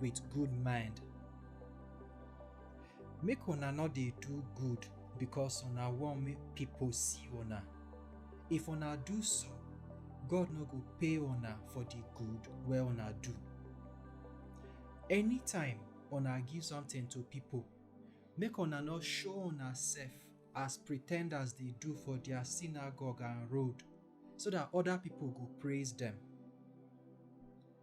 with good mind. Make una no dey do good because una wan make pipo see una. If una do so, God no go pay una for di good wey una do. Anytime una give something to pipo, make una no show unasef as pretenders dey do for dia synagogue and road, so dat oda pipo go praise dem.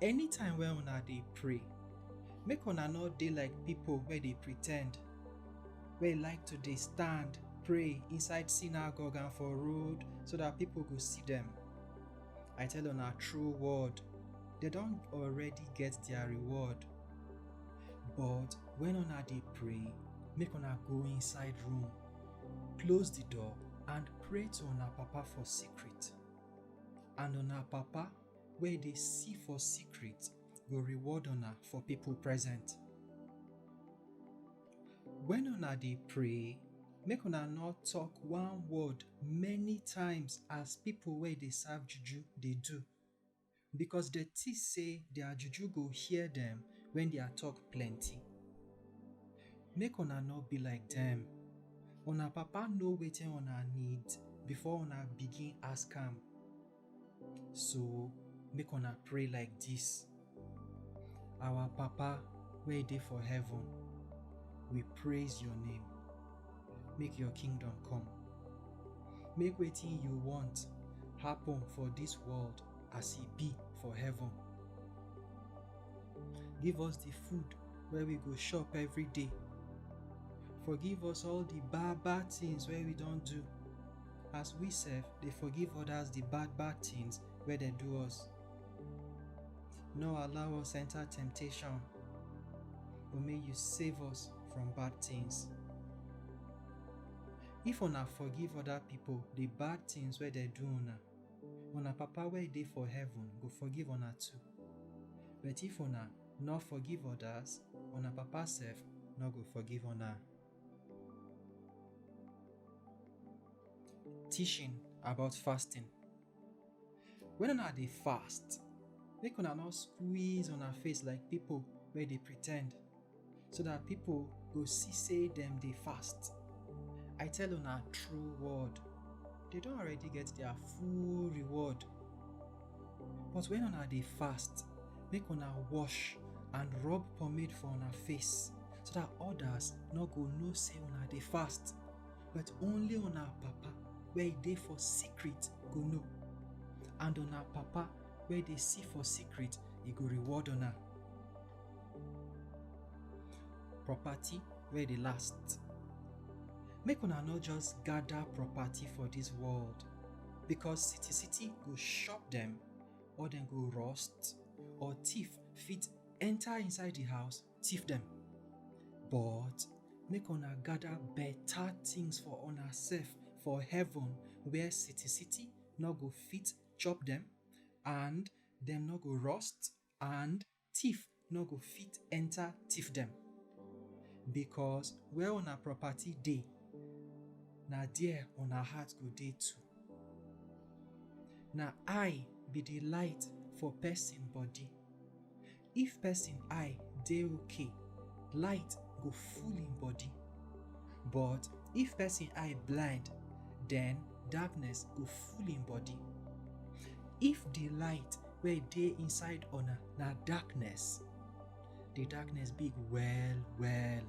Anytime wey una dey pray, make una no dey like pipo wey dey pretend, wey like to dey stand pray inside synagogue and for road, so dat pipo go see dem. I tell una true word, dem don already get dia reward. But wen una dey pray, make una go inside room, close di door and pray to una Papa for secret, and una Papa wey dey see for secret go reward una for people present. When una dey pray, make una no talk one word many times as people wey dey serve juju dey do, because dem think say their juju go hear dem when their talk plenty. Make una no be like dem. Una Papa know wetin una need before una begin ask am. So make una pray like this. Our Papa wey dey for heaven, we praise your name. Make your kingdom come. Make wetin you want happen for this world as e be for heaven. Give us the food wey we go chop every day. Forgive us all the bad bad things wey we don do. as we sef dey forgive others the bad bad things wey dem do us. No allow us enter temptation, but may you save us from bad things. If una forgive other people the bad things wey dem do una, una Papa wey dey for heaven go forgive una too. But if una no forgive others, una Papa sef no go forgive una. Teaching about fasting. When una dey fast, make una no squeeze una face like pipo wey dey pretend, so dat pipo go see sey dem dey fast. I tell una true word, dem don already get dia full reward. But when una dey fast, make una wash and rub pomade for una face, so that others no go know say una dey fast, but only una Papa wey dey for secret go know, and una Papa wey dey see for secret, e go reward una. Property wey dey last. Make una no just gather property for this world, Because city city go chop dem or dem go rust or thief fit enter inside the house thief dem. But make una gather better things for una self for heaven where city city no go fit chop dem and dem no go rust and Thief nor go fit enta thiefdem, bikos where una propati dey, na der una heart go dey too. Na eye bi di lite for pesin body, if pesin eye dey ok, lite go full en body, but if pesin eye blind, den darkness go full en body. If di lite wey dey inside una na darkness. The darkness big well well.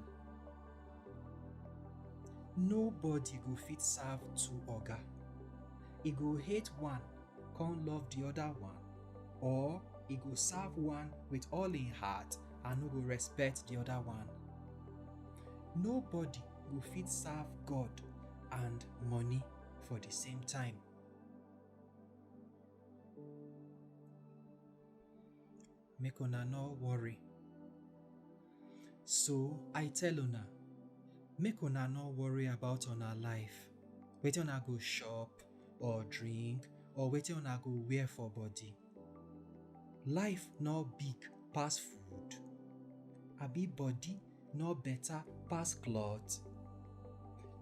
Nobody go fit serve two oga. E go hate one come love the other one or e go serve one with all im heart and no go respect the other one. Nobody go fit serve God and money for the same time. make una no worry. So I tell una, make una no worry about una life, wetin una go chop or drink or wetin una go wear for body. Life no big pass food, abi body no better pass cloth?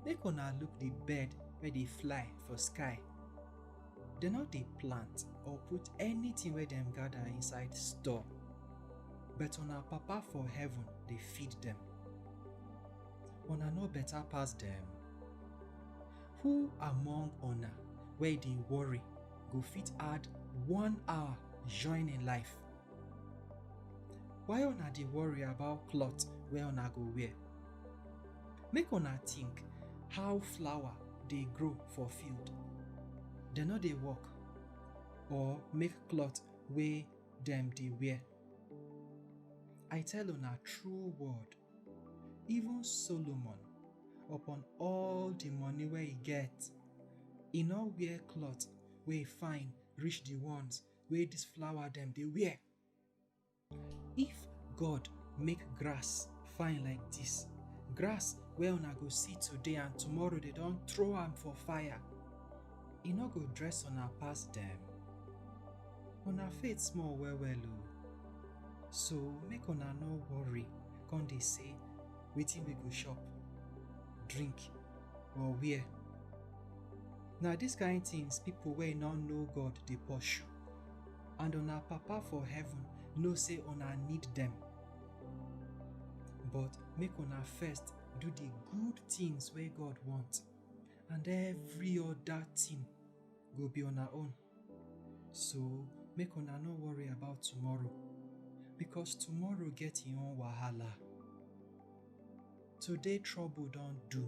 Make una look the bird wey dey fly for sky. Dem no dey plant or put anything wey dem gather inside store, but una Papa for heaven dey feed dem. Una no better pass dem? Who among una wey dey worry go fit add one hour join im life? Why una dey worry about cloth wey una go wear? Make una think how flower dey grow for field. Dem no dey work or make cloth wey dem dey wear? I tell una true word, even Solomon, upon all the money wey e get, e no wear cloth wey fine reach the ones wey dis flower dem dey wear. If God make grass fine like dis, grass wey una go see today and tomorrow dey don throw am for fire, e no go dress una pass dem? Una faith small well well o! So make una no worry come dey say, Wetin we go chop, drink or wear? Na dis kain tins pipo wey no know God dey pursue, and una Papa for heaven know sey una need dem. But make una first do di good tins wey God want, and every oda tin go be una own. So, make una no worry about tomorrow, because tomorrow get im own wahala. Today trouble don do.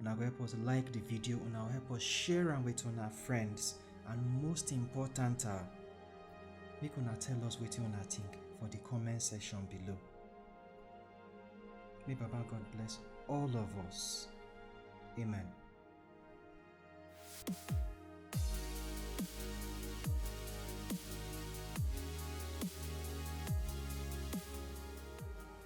una go help us like the video una go help us share am with una friends and most important ah make una tell us wetin una think for the comment section below may baba god bless all of us amen.